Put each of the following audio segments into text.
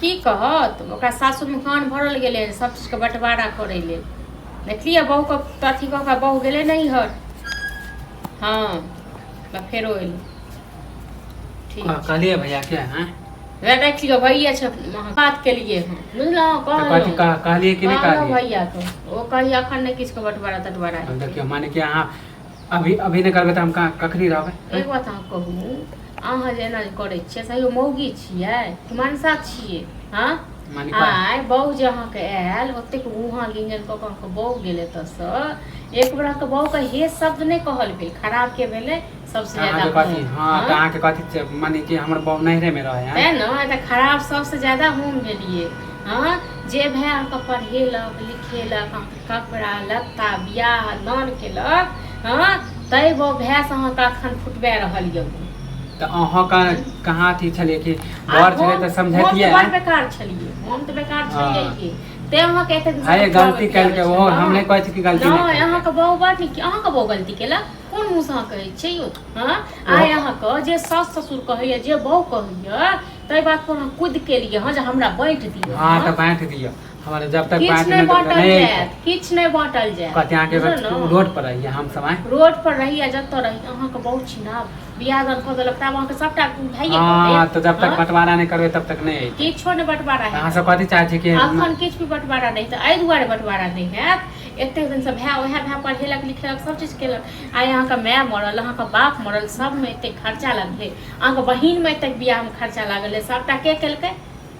की कहत ओकरा सासुरमे कान भरल गेलै सब चीजके बंटवारा करै लेल देखलियै बहुके तऽ अथी कऽ कऽ बहु गेलै नहि हर हँ तऽ फेरो एलै ठीक कह- कहलिए भैया के हैं वएह देख लियौ भैया छै अहाँ बात केलियै हँ बुझलहुँ तो कथी कहलहुँ कह- कहलिए कि नहीं कहलहुँ कहलिए भैया के ओ कहिया अखन नहि किछुके बंटवारा तटवारा अब देखियो माने कि अहाँ अभी अभी नहि करबै तऽ हम कहाँ कखनी रहबै एक बात अहाँ कहू अहाँ जे एना जे करै छियै से यौ मौगी छियै कि मनसा छियै हँ मानी पा- आइ बहू जे अहाँके आयल ओतेक उहाँ गिंजन कऽ कऽ अहाँके बहू गेल एतऽसँ एक बेर अहाँके बहूके हे शब्द नहि कहल भेल खराब के भेलै सबसँ अहाँके ज्यादा कथी हम, हँ हँ? तऽ अहाँके कथी छै, माने कि हमर बहु नैहरेमे रहै हँ तैँ ने तऽ खराब सबसँ ज्यादा हम भेलियै हँ जे भाय अहाँके पढ़ेलक लिखेलक अहाँके कपड़ा लत्ता बियाह दान केलक हँ तै बो भैंस अहाँके अखन फुटबे रहल यऽ तऽ अहाँके कहाँ अथी छलियै कि घर छलियै तऽ समझतियै हम बेकार छलियै हम तऽ बेकार छलियै हाँ। कि ते अहाँके एते दिन अरे गलती करके ओ हम नहि कहै छी कि गलती नहि अहाँके बहु बात नहि अहाँके बहु गलती केलक कोन मुँह से अहाँ कहै छियै यौ हँ आइ अहाँके जे सास ससुर कहैया जे बहु कहैया ताहि बात पर हम कुद केलियै हँ जे हमरा बाँटि दिअ हँ तऽ बाँटि दिअ हमारे जब तक पाँच किछु नहि मिनट बाँटल नहीं आई जायत थी, किछु नहि बाँटल जायत कहते यहाँ के बुझल न? रोड पर रहिए हम सब आए रोड पर रही आ जतऽ रही अहाँके बहुत चिन्हब बियाह दान कऽ देलक तब अहाँके सबटा भाइये कऽ हाँ देत। तो जब तक हाँ? बंटवारा नहीं करबे तब तक नहीं आई थी। किछो नहि बंटवारा अहाँ हैत सब कथी चाहे छी कि अखन किछु भी बंटवारा नहि तऽ एहि दुआरे बंटवारा नहि हैत एतेक दिनसँ भाय ओएह भाय पढ़ेलक लिखेलक सब चीज केलक आइ अहाँके माय मरल अहाँके बाप मरल सबमे एतेक खर्चा लगलै अहाँके बहिनमे एतेक बियाहमे खर्चा लागल है सबटा के केलकै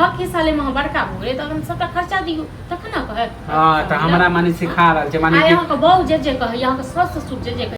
हक के साले में हम बड़का हो गेले तखन सबटा खर्चा दियो तखन ना कहे हां त हमरा माने सिखा रहल छै माने अरे कि अहाँ के बहू जे जे कहे अहाँ के सास ससुर जे जे कहे